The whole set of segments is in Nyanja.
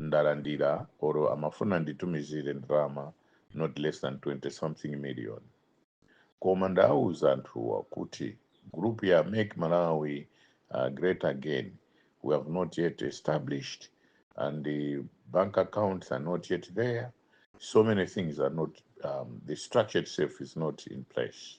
ndalandira or amafuna nditumizire ndalama not less than 20 something million koma ndawuza anthuwa kuti group ya make malawi uh, great again we have not yet established and the bank accounts are not yet there so many things are not um, the structure itself is not in place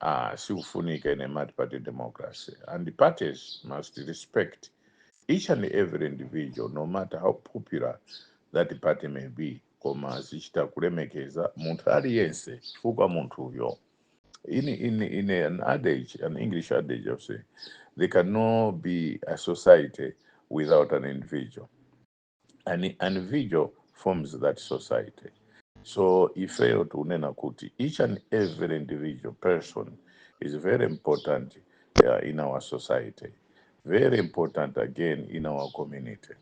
ah, sikufunika ine multiparty democracy and parties must respect each and every individual no matter how popular that party may be koma azichita kulemekeza munthu aliyense chifukwa munthuyo in, in, in an adage an english adage of say there cannot be a society without an individual an individual forms that society so ifeyo tikunena kuti each and every individual person is very important uh, in our society very important again in our community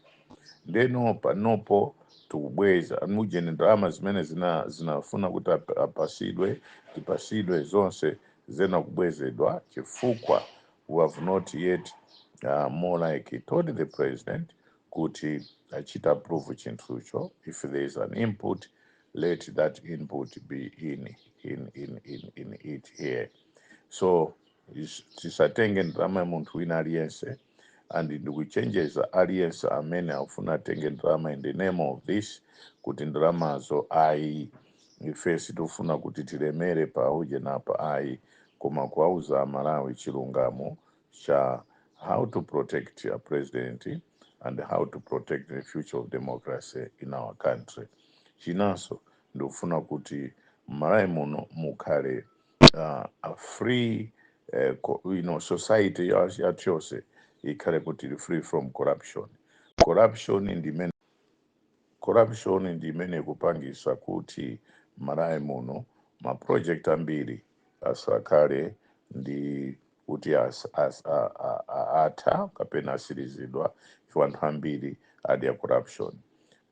ndeno panopo tikubweza ujeni ndalama zimene zinafuna kuti ap- apasidwe tipasidwe zonse zayenera kubwezedwa chifukwa we have not yet uh, more like told the president kuti achite approve chinthucho if there is an input let that input be in in in in, in it here so is- tisatenge ndalama ya munthu wina aliyense and ndikuchenjeza aliyense amene akufuna atenge ndalama in the name of this kuti ndalamazo ayi ife sitifuna kuti tilemere paujeni apa ayi koma kuwauza amalawi chilungamo cha how to protect a president and how to protect the future of democracy in our country chinanso ndikufuna kuti mmalawi muno mukhale uh, a free uh, co- you know, society ya- yathu yonse ikhale kuti ili free from corruption corruption ndi imene corruption ndi imene ikupangisa kuti mmalawi muno ma project ambiri asakhale ndi kuti as, as, a, a, a, atha kapena atsirizidwa chifukwa anthu ambiri adya corruption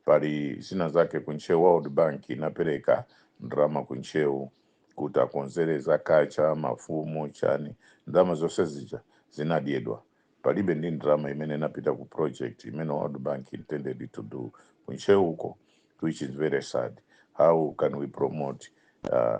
pali zina zake kuntcheu world bank inapereka ndalama kuntcheu kuti akonzere za kacha mafumu chani ndalama zonse zija zinadyedwa palibe ndi ndalama imene inapita ku project imene world bank intended to do kuntcheuko which is very sad how can we promote uh,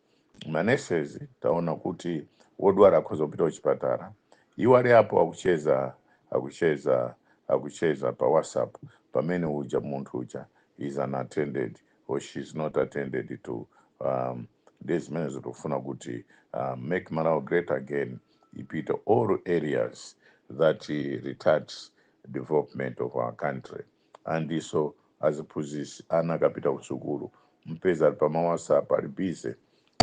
ma nurses taona kuti wodwala akhoza kupita kuchipatala iwo ali apo akucheza akucheza akucheza pa whatsapp pamene uja munthu uja is unattended or she is not attended to um, ndi zimene tikufuna kuti uh, make malawi great again ipite all areas that uh, retards development of our country and so aziphunzitsi ana akapita kusukulu mpeza ali pama whatsapp ali busy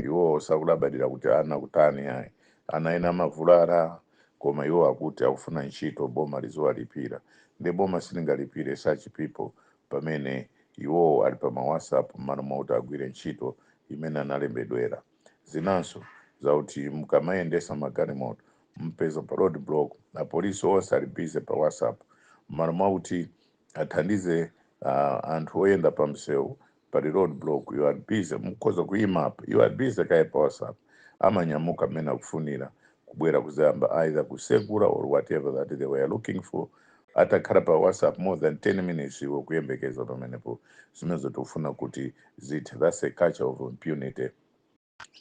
iwowo sakulabadira kuti ana akutani ayi ana ena amavulala koma iwo akuti akufuna ntchito boma liziwalipira nde boma silingalipire such people pamene iwowo ali pama whatsapp mmalo mwakuti agwire ntchito imene analembedwera zinanso zauti mukamayendesa magalimoto mpeza pa road block apolisi onse ali busy pa whatsapp mmalo mwakuti athandize uh, anthu oyenda pa msewu pali road block you are busy mukhoza kuyimapo you are busy kaye pa whatsapp amanyamuka mmene akufunira kubwera kuzayamba either kusegura or whatever that they were looking for atakhala pa whatsapp more than 10 minutes iwe kuyembekeza pamenepo zimenezo tikufuna kuti zithe that's a culture of impunity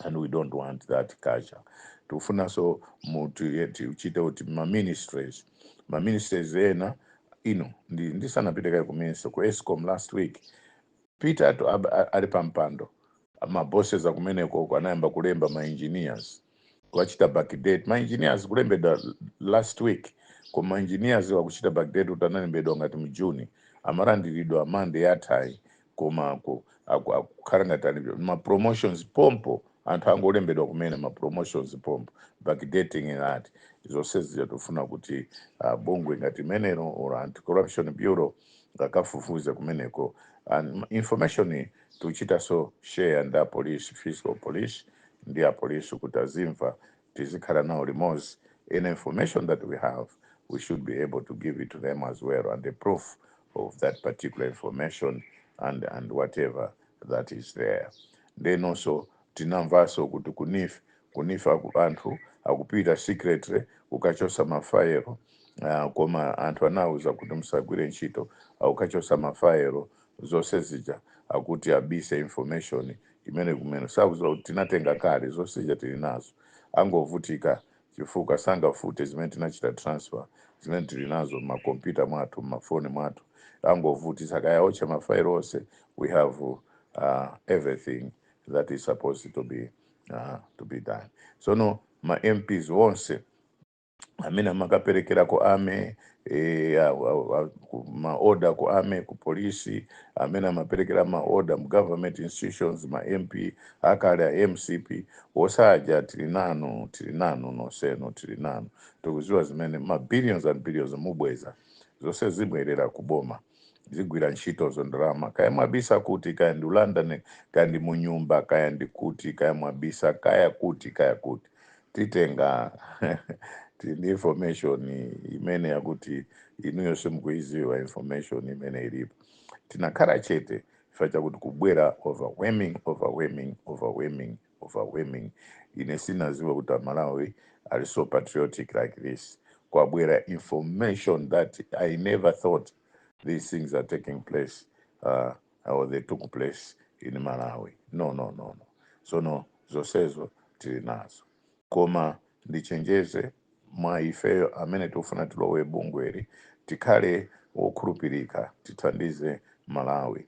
and we don't want that culture tikufunanso tichite kuti maministries maministries ena inu ndisanapite kaye kuministry ku escom last week peter ali pampando mabosses akumeneko anayamba kulemba maengineers kuwachita backdate maengineers kulembedwa last week koma maengineers wakuchita backdate kuti analembedwa ngati mjuni amalandiridwa mande yathayi koma ku- aku- akukhala ngati ali ma promotions pompo anthu angolembedwa kumene ma promotions pompo backdating inati zonsezi tifuna kuti uh, bungwe ngati limenelo la anti corruption bureau akafufuze kumeneko and information iyi tuchitaso share ndi apolice fiscal police ndi apolice kuti azimva tizikhala nawo limodzi any information that we have we should be able to give it to them as well and a proof of that particular information and, and whatever that is there ndenonso tinamvanso kuti kuneef kuneef aku- anthu akupita secretly kukachosa mafayilo uh, koma anthu anawuza kuti musagwire ntchito akukachosa mafayilo zonse zija akuti abise information imene kumene sakuziwa kuti tinatenga kale zonse zija tili nazo angovutika chifukwa sangafute zimene tinachita transfer zimene tili nazo mma computer mwathu mma phone mwathu angovutitsa kaya aotcha mafayilo onse we have uh, everything that is supposed to be uh, to be done sono ma mps onse amene amakaperekera ku army eh, a- a- a- ku- maoda ku army ku polisi amene amaperekera maoda mu government institutions ma mp akale a mcp osaja tili nanu tili nanu nosenu tili nanu tikuziwa zimene ma billions and billions mubweza zonse zibwerera ku boma zigwira ntchitozo ndalama kaya mwabisa kuti kaya ndi ku london kaya ndi munyumba kaya ndi kuti kaya mwabisa kaya kuti kaya kuti titenga tili ndi information imene yakuti inuyo simukuiziwa information imene ilipo tinakhala chete chifukwa chakuti kubwera overwhelming overwhelming overwhelming overwhelming ine sinadziwe kuti amalawi ali so patriotic like this kwabwera information that i never thought these things are taking place uh, or they took place in malawi no no no no sono zonsezo tili nazo koma ndichenjeze mwa ifeyo amene tikufuna tilowe bungweli tikhale wokhulupirika tithandize malawi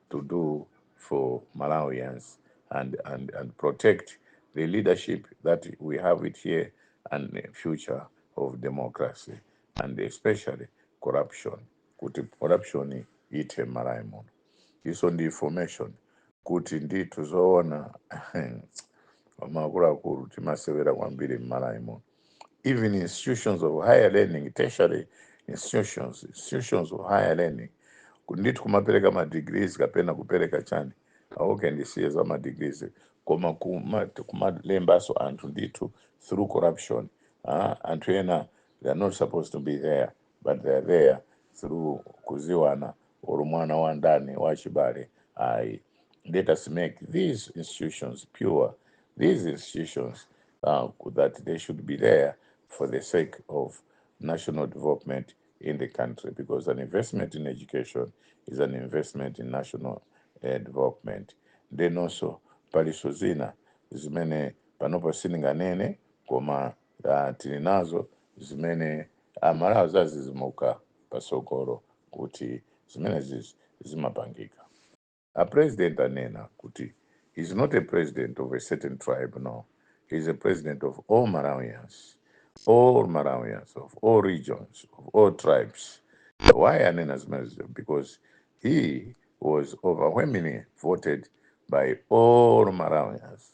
to do for Malawians and, and, and protect the leadership that we have it here and the future of democracy and especially corruption kuti corruption ithe m'malawi muno ndiponso ndi information kuti ndithu zoona akuluakulu timasewera kwambiri m'malawi muno even institutions of higher learning tertiary institutions institutions of higher learning ndithu kumapereka madegrees kapena kupereka chani aah kaye ndisiye za madegrees koma kuma- kumalembanso anthu ndithu through corruption ah, anthu ena they are not supposed to be there but they are there through kudziwana or mwana wa ndani wa chibale ayi let us make these institutions pure these institutions uh, that they should be there for the sake of national development in the country because an investment in education is an investment in national uh, development then also paliso zina zimene panopo sininganene koma ah, tili nazo zimene amalawi adzadzidzimuka patsogolo kuti zimenezi zimapangika a president anena kuti he's not a president of a certain tribe no he's a president of all malawians all malawians of all regions of all tribes why anena zimenezi because he was overwhelmingly voted by all malawians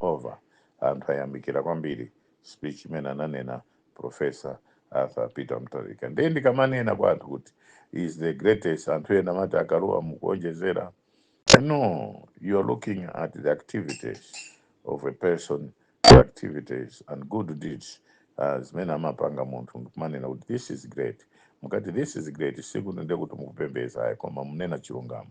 over anthu ayamikira kwambiri speech imene ananena professor arthur peter mutharika ndiye ndikamanena kwa anthu kuti he is the greatest anthu ena amati a Kalua mukuonjezera no you are looking at the activities of a person the activities and good deeds uh, zimene amapanga munthu ndikumanena kuti this is great mukati this is great sikuno ndiye kuti mukupembedza ayi koma munena chilungamo